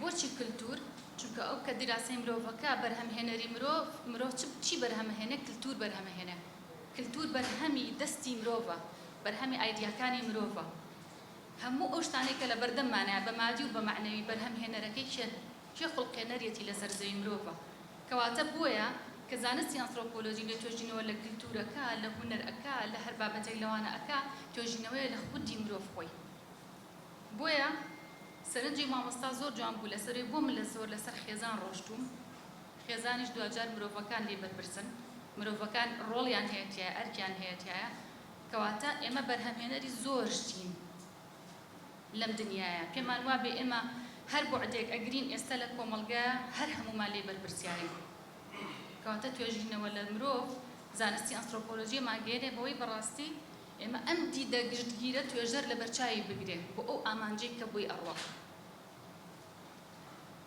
بۆچی کلتور؟ چونکە ئەو کە دیراسەی مرۆڤەکە بەرهەمهێنەری مرۆڤ، مرۆڤ چ چی بەرهەمەهێنێ کلتور بەرهەمەهێنێ. کلتور بەرهەمی دەستی مرۆڤە، بەرهەمی ئایدیاکانی مرۆڤە. هەموو ئەو شتانەی کە لەبەردەممانایە بە مادی و بە مەعنەوی بەرهەمهێنەرەکەی کێن؟ کێ خوڵقێنەریەتی لەسەر زەوی مرۆڤە. کەواتە بۆیە کە زانستی ئەنثرۆپۆلۆجی لێ توێژینەوە لە کلتور ئەکا، لە هونەر ئەکا، لە هەر بابەتێک لەوانە ئەکا، توێژینەوەیە لە خودی مرۆڤ خۆی. بۆیە سەرنجی مامۆستا زۆر جوان بوو لەسەروی بۆ من لە زۆر لەسەر خێزان ڕۆشتووم خێزانیش دواجار مرۆڤەکان لێی بەرپرسن مرۆڤەکان ڕۆڵیان هەیە تیایە ئەرکیان هەیە تیایە کەواتە ئێمە بەرهەمهێنەری زۆر شتین لەم دنیایە پێمان وابێ ئێمە هەر بوعدێک ئەگرین ئێستا لە کۆمەڵگە هەر هەمومان لێی بەرپرسیارین کەواتە توێژینەوە لە مرۆڤ زانستی ئەنسرۆپۆلۆژی مانگەیەنێ بەوەی بەڕاستی ئێمە ئەم دیدە گشتگیرە توێژەر لەبەرچاوی بگرێ بۆ ئەو ئامانجەی کە بۆی ئەڕوا.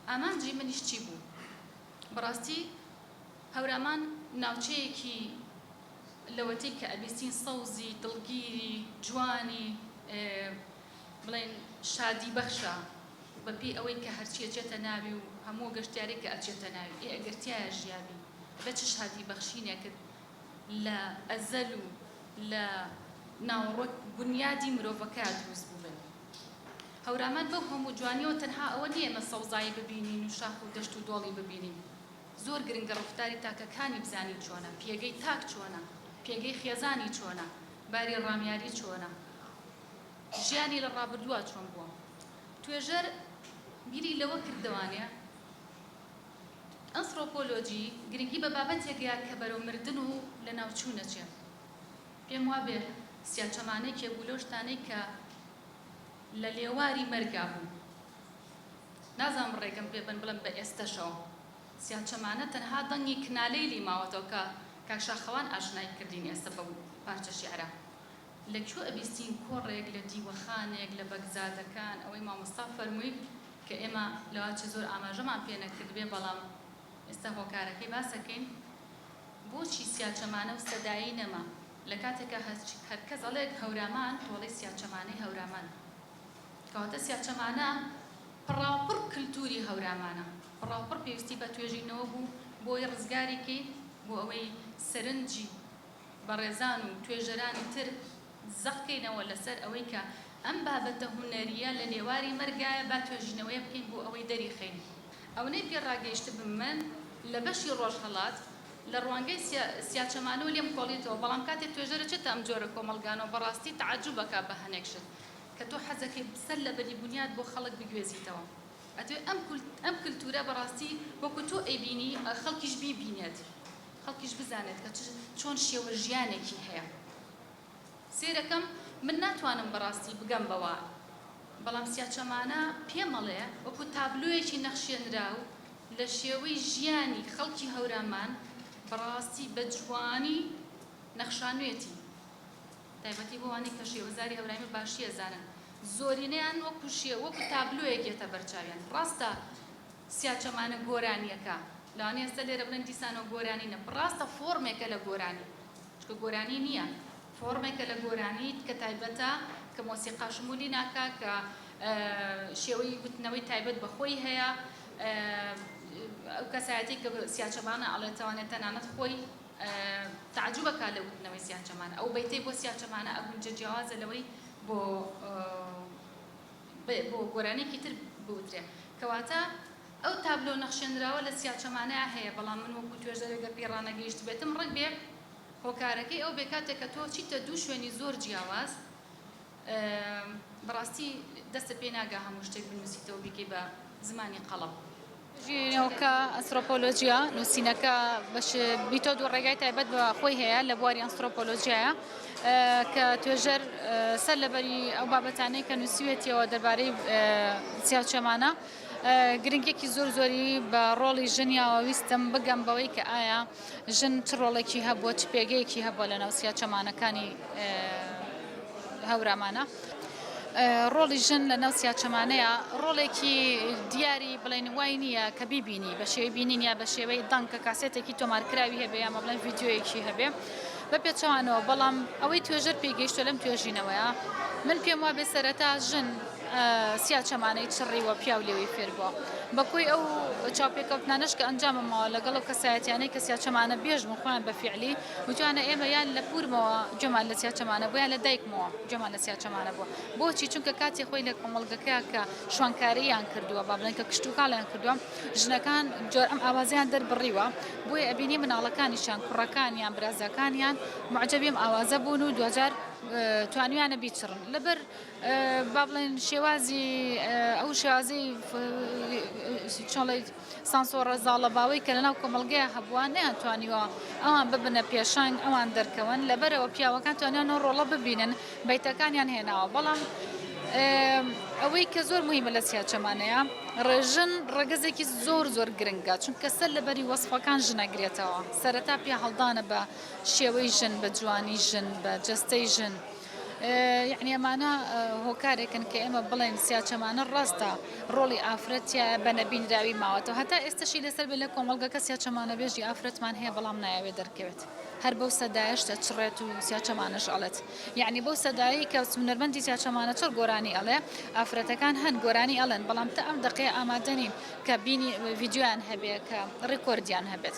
ئامانجی منیش چی بوو؟ بەڕاستی هەورامان ناوچەیەکی لەوەتەی کە ئەبیستین سەوزی، دڵگیری، جوانی، بڵێین شادی بەخشە، بەپێی ئەوەی کە هەرچی ئەچێتە ناوی و هەموو گەشتیارێک کە ئەچێتە ناوی، ئێ ئەگەر تیایا ژیابی بە چ شادی بەخشینێکت لە ئەزەل و لە ناوەڕۆک بونیادی مرۆڤەکە دروست بووبن. هەورامان بەو هەموو جوانیەوە تەنها ئەوە نیە ئێمە سەوزایی ببینین و شاخ و دەشت و دۆڵی ببینین. زۆر گرنگە ڕوخداری تاکەکانی بزانین چۆنە، پێگەی تاک چۆنە، پێگەی خێزانی چۆنە، باری ڕامیاری چۆنە، ژیانی لە ڕابردووا چۆن بووە. توێژەر بیری لەوە کرد دەوانێ. ئەنسڕۆپۆلۆجی گرنگی بە بابەتێک یا کە بەرەو مردن و لەناوچوون ئەچێ. پێم وابێ سیاچەمانە یەکێ بوو لەو شتانەی کە لە لێواری مەرگا بوو. نازانم ڕێگەم پێ بەن بڵێم بە ئێستەشەوە سیاچەمانە تەنها دەنگی کنالەیلی ماوەتەوە کە کاک شاخەوان ئاشنای کردین ئێستە بەو پارچە شیعرە لە کوێ ئەبیستین کۆڕێک لە دیوەخانێک لە بەگزادەکان ئەوەی مامۆستا فەرمووی کە ئێمە لەوەچە زۆر ئاماژەمان پێ نەکردبێ بەڵام ئێستا هۆکارەکەی باسەکەین بۆچی سیاچەمانە و سەدایی نەما لە کاتێکا هەرکەس ئەڵێ هەورامان تۆ ئەڵێی سیاچەمانەی هەورامان کەواتە سیاچەمانە پڕاوپڕ کلتوری هەورامانە پڕاوپڕ پێویستی بە توێژینەوە بوو بۆی ڕزگاری کەین بۆ ئەوەی سەرنجی. بەڕێزان و توێژەرانی تر زەق کەینەوە لەسەر ئەوەی کە ئەم بابەتە هونەرییە لە لێواری مەرگایە با توێژینەوەیەک بکەین بۆ ئەوەی دەریخەین ئەونەی پێ ڕاگەیشتبم من لە بەشی ڕۆژهەڵات لە ڕوانگەی سیاچەمانەوە لێم کۆڵیتەوە بەڵام کاتێ توێژەرە چێتە ئەم جۆرە کۆمەڵگانەوە بەڕاستی تەعەجوب ئەکا بە هەنێک شت کە تۆ حەزەکەی سەر لە بەری بونیاد بۆ خەڵک بگوێزیتەوە ئەتوێ ئەم کولتورە بەڕاستی وەکو تۆ ئەیبینی خەڵکیش بیبینێت. خەڵکیش بزانێت کە چۆن شێوە ژیانێکی هەیە سێرەکەم من ناتوانم بەڕاستی بگەم بەوە بەڵام سیاچەمانە پێمەڵێ وەکو تابلۆیەکی نەخشێنراو لە شێوەی ژیانی خەڵکی هەورامان بەڕاستی بە جوانی نەخشانوێتی تایبەتی بۆوانی کە شێوەزاری هەورامی باشیە زانن زۆرینەیان وەکو شێ وەکو تابلۆیەک یەتە بەرچاویان ڕاستە سیاچەمانە گۆرانیەکە لەوانەیە ئێستا لێرە بڵێن دیسانەوە گۆرانی نیە بڕاستە فۆرمێکە لە گۆرانی چونکە گۆرانی نیە فۆرمێکە لە گۆرانی کە تایبەتە کە مۆسیقا شمولی ناکا کە شێوەی وتنەوەی تایبەت بە خۆی هەیە ئەو کەسایەتی کە سیاچەمانە ئەڵێ تەوانێت تەنانەت خۆی تعجبە کا لە وتنەوەی سیاچەمانە ئەو بەیتەی بۆ سیاچەمانە ئەگونجە جیاوازە لەوەی بۆ بۆ گۆرانیەکی تر بوترێ کەواتە ئەو تابلۆ نەخشێنراوە لە چیا چەمانەیا هەیە بەڵام من وەکو توێژەرێک گەر پێی ڕانەگەیشتبێتم ڕەنگ بێ هۆکارەکەی ئەو بێ کاتێک کە تۆ چیتە دوو شوێنی زۆر جیاواز بەڕاستی دەستت پێ ناگا هەموو شتێک بنوسیتەوە بیکەی بە زمانی قەڵەم. ژیریەوەکە، ئەنسرۆپۆلۆژیا، نووسینەکە بەش، میتۆد و ڕێگای تایبەت بە خۆی هەیە لە بواری ئەنسرۆپۆلۆژیایە کە توێژەر سەر لەبەری ئەو بابەتانەی کە نووسیوێتیەوە دەربارەی چیاوچێمانە گرنگێکی زۆر زۆری بە ڕۆڵی ژنیاوە ویستم بگەم بەوەی کە ئایا ژن چ ڕۆڵێکی هەبووە، چ پێگەیەکی هەبووە لەناو سیاچەمانەکانی هەورامانا؟ ڕۆڵی ژن لەناو سیاچەمانەیا ڕۆڵێکی دیاری بڵێن وای نییە کە بیبینی بە شێوەی بینین یا بە شێوەی دەنگ کە کاسێتێکی تۆمارکراوی هەبێ یامە بڵێن ڤیددیویەکی هەبێ بە پێچەوانەوە بەڵام ئەوەی توێژەر پێگەیشتە لەم توێژینەوەیە من پێم وابێ سەرەتا ژن سیا چەمانەی چڕی و پیاو لێوی فێر بووە. بە کۆی ئەو چاوپێکەوتنانەش کە ئەنجامم ماوە لەگەڵ ئەو کەسایەتیانەی کە سیا چەمانە بێژ بوون خۆیان بە فیعلی وتویانە ئێمە یان لە پوورمەوە گوێمان لە سیا چەمانە بووە یان لە دایکمەوە گوێمان لە سیا چەمانە بووە. بۆچی؟ چونکە کاتی خۆی لە کۆمەڵگەکەیا کە شوانکارییان کردووە با بڵێن کە کشتوکاڵیان کردووە ژنەکان جۆر ئەم ئاوازەیان دەربڕیوە بۆیە ئەبینی مناڵەکانیشیان کوڕەکانیان برازاکانیان موعجەبی ئەم ئاوازە بوون و دواجار توانیویانە بیچڕن لەبەر با بڵێن شێوازی ئەو شێوازەی چۆڵی سانسۆڕە زاڵەباوەی کە لەناو کۆمەلگەیە هەبووە نیان توانیوە ئەوان ببنە پێشنگ ئەوان دەرکەون لەبەرەوە پیاوەکان توانیان و ڕۆڵە ببینن بیتەکانیان هێناوە بەڵام ئەوەی کە زۆر مهمە لە سیاچەمانەیە ڕێژن ڕگەزێکی زۆر زۆر گرنگە چونکە سەر لەبەری وەصفەکان ژنەگرێتەوە سەرەتا پیا هەڵدانە بە شێوەی ژن بە جوانی ژن بە جستەی ژن یەعنی ئەمانە هۆکارێکن کە ئێمە بڵێن سیاچەمانە ڕاستە ڕۆڵی ئافرەت تایە بە نەبینراوی ماوەتەوە هەتا ئێستەشی لەسەر بێ لە کۆمەڵگەکە سیاچەمانە بێژی ئافرەتمان هەیە بەڵام نایەوێ دەرکەوێت هەر بەو سەدایش دەچڕێت و سیاچەمانەش ئەڵێت یعنی بەو سەدایی کە سونەرمەندی سیاچەمانە چۆر گۆرانی ئەڵێ ئافرەتەکان هەن گۆرانی ئەڵێن بەڵام تا ئەم دەقەیە ئامادەنین کە بینی ڤیددیویان هەبێ کە ڕێکۆردیان هەبێت